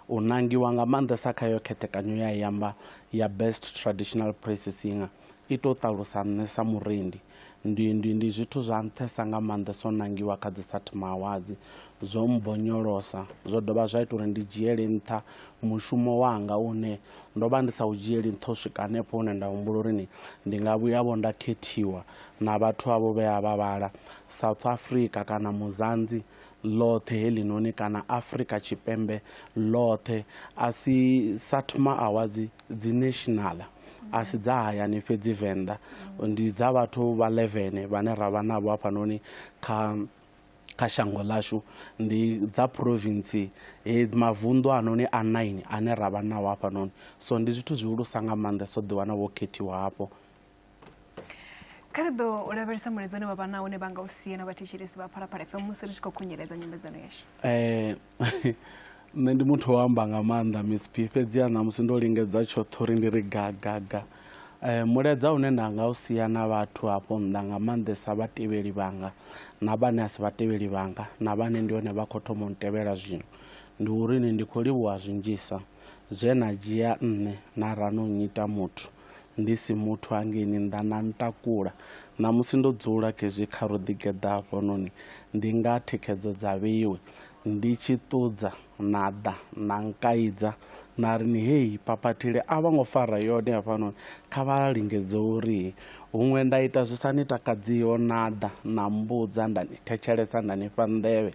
E: u nangiwa nga maanḓesa kha yo khethekanyo ya yamba ya best traditional praise singer i to ṱalusa nṋe sa murendi Ndi, ndi, ndi zwithu zwa nṱhesa nga maanḓa zwo nangiwa kha dzisathimaawadzi. Zwo mbonyolosa, zwo dovha zwa ita uri ndi dzhiele nṱha mushumo wanga une ndo vha ndi sa u dzhieli nṱha u swika hanefho hune nda humbula uri ni ndi nga vhuyavho nda khethiwa na vhathu avho vhe a vha vhala South Africa kana Muzanzi ḽoṱhe heḽinoni kana Afrika Tshipembe ḽoṱhe a si Satma Awards dzi nationala a si dza hayani fhedzi venḓa ndi dza vhathu vha 11 vhane ra vha navho hafhanoni kha kha shango ḽashu ndi dza province he mavunḓu anoni a 9 ane ra vha nao hafhanoni so ndi zwithu zwihulusa nga maanḓa so ḓiwana wo khethiwa hafho kha ri
D: ḓo u lavhelesa mulaedza une vha vha na une vha nga u sia na vhathetshelesi vha phalaphala fm musi ri tshi khou khunyeledza nyambedzano yashu um
E: nṋe ndi muthu wa amba nga maanḓa mcp fhedziha ṋamusi ndo lingedza tshoṱhe uri ndi ri gagaga um mulaedza une nda nga u sia na vhathu hafho nnḓa nga maanḓesa vhatevheli vhanga na vhane a si vhatevheli vhanga na vhane ndi hone vha khou thoma u tevhela zwino ndi uri ni ndi khou livhuwa zwinzhisa zwe na dzhia nṋe na rano nnyita muthu Ndi si muthu hangeini nnḓa na ntakula, ṋamusi ndo dzula khezwi kha ro ḓigeḓa hafhanoni, ndi nga thikhedzo dza vheiwe, ndi tshi ṱudza na ḓa na nkaidza na ri ni hei phaphathile a vho ngo fara yone hafhanoni, kha vha lingedze uri huṅwe nda ita zwi sa ni takadziho na ḓa na mmbudza nda ni thetshelesa nda ni fha nḓevhe,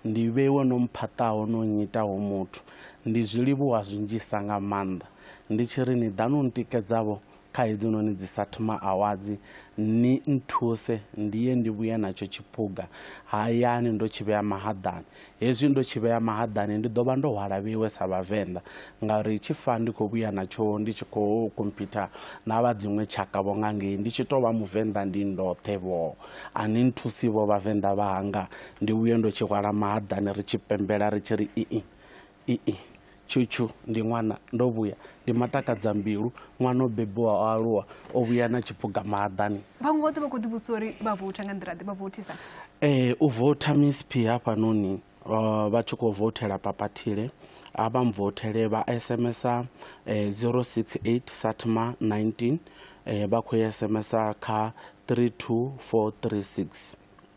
E: ndi vheiwe no mphaṱaho no nnyitaho muthu, ndi zwi livhuwa zwinzhisa nga maanḓa. Ndi tshi ri ni ḓani u ntikedza-vho kha hedzinoni dzi sa thu maawadzi, ni nthuse ndi ye ndi vhuye natsho tshiphuga hayani ndo tshi vhea mahaḓani. Hezwi ndo tshi vhea mahaḓani ndi ḓo vha ndo hwala vheiwe sa Vhavenḓa, ngauri tshi fa ndi khou vhuya natsho ndi tshi khou khomphitha na vha dziṅwe tshaka-vho nga ngei, ndi tshi tou vha Muvenḓa ndi ndoṱhe-vho. A ni nthusi-vho Vhavenḓa vhanga, ndi vhuye ndo tshi hwala mahaḓani ri tshi pembela ri tshi ri, Ii, Ii, Tshutshuu ndi ṅwana ndo vhuya, ndi matakadzambilu, ṅwana o bebiwa o aluwa, o vhuya na tshiphuga mahaḓani. Vhaṅwe vhoṱhe vha khou ḓivhudzisa
D: uri vha voutha nga nḓila ḓe vha vouthisa. Ee, u voutha
E: Miss P hafhanoni uh, vha tshi khou voutela papathile a vha mvothele vha sms uh, 068 satma 19 uh, vha khou sms kha 32436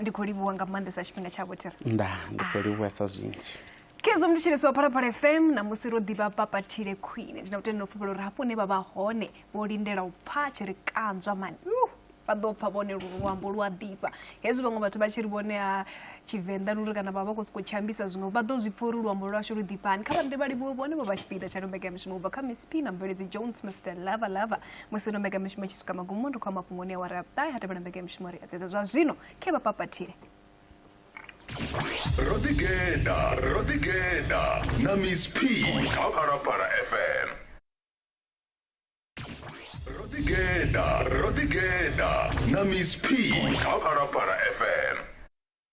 E: ndi khou livhuwa nga
D: maanḓesa tshifhinga tsha vhotira nda ndi khou
E: livhuwesa zwinzhi khezwo mnditsheleso wa
D: phalaphala fm na musi ro ḓivha papathile khwine ndi na vhutende no fhufhela uri hafho hune vha vha hone vho lindela u pfha tshi ri kanzwa mani vha ḓo pfha vhone luambo lu a ḓifha hezwi vhaṅwe vhathu vha tshi ri vhone a tshivenḓa luri kana vha vha khou sokou tshambisa zwiṅwe vha ḓo zwi pfha uri luambo lwashu lu ḓifhani kha vhaḓe vha livhuwe vhone vho vha tshipiḓa tsha lombekeamushumo u bva kha miss p na mveledzi jones mr lava lava musi ro mbekamishumo tshi swika magumoni ri khou amba fhungo ni awara ya vhuṱahe ha tevhela mbekamishumo ri a dzedza zwa zwino khe vha papathile ro ḓigeda
C: ro ḓigeda na miss p kha phalaphala fm ro ḓigeda ro ḓigeda na miss p kha phalaphala fm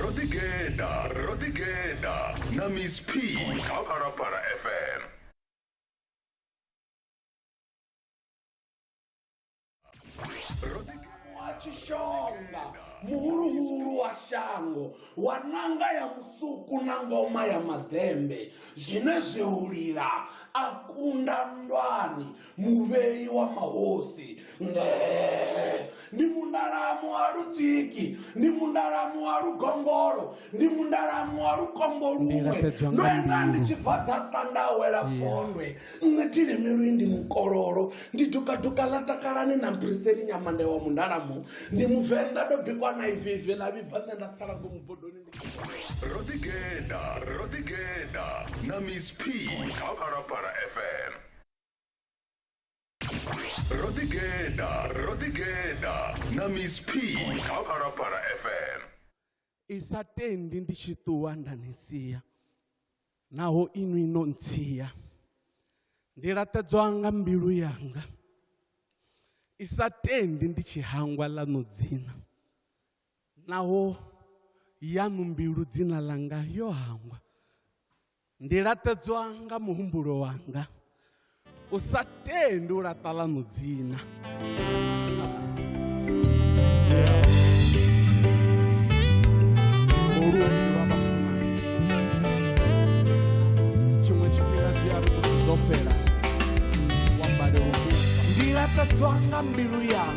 C: ro ḓigeḓa ro ḓigeḓa na miss p kha phalaphala fm
G: wa tshishonga muhuluhulu wa shango wa nanga ya musuku na ngoma ya maḓembe zwine zwi hulila a kunda ndwani muvhei wa mahosi Ngee. ndi mundalamu wa lutsiki ndi mundalamu wa lugombolo ndi mundalamu wa lukombo luṅwe Ndilafhedzwa ndo nga enda ndi mbilu. tshi bva dza ṱandawela fondwe nṋe thilimiwi ndi mukololo ndi dukaduka ḽa takalani na mpiriseni nyamande wa mundalamu ndi muvenḓa ndo bikwa na ivivi ḽa vhibva nṋe nda sala ngomu bodoni ndi ro ḓigeḓa
C: ro ḓigeḓa na miss p kha phalaphala fm rodigena rodigena na miss p kha phalaphala fm i sa
E: tendi ndi tshi ṱuwa nda ni sia naho inwi no ntsia ndi laṱedzwa nga mbilu yanga i sa tendi ndi tshi hangwa ḽa no dzina Naho yaṋu mbilu dzina ḽanga yo hangwa, ndi laṱedzwa nga muhumbulo wanga, u sa tendi u laṱa ḽaṋu dzina. Ndi laṱedzwa nga
G: mbilu yanga.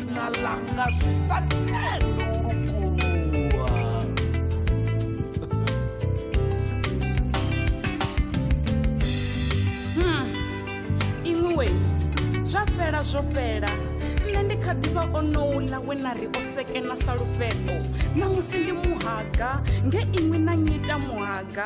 G: na langa zwi sa tendi u lukuluwa
H: Hmm, iṅwi wei zwa fhela zwo fhela nṋe ndi kha ḓivha onouḽa we na ri o sekena sa lufheṱo na musi ndi muhaga nge iṅwi na nyita muhaga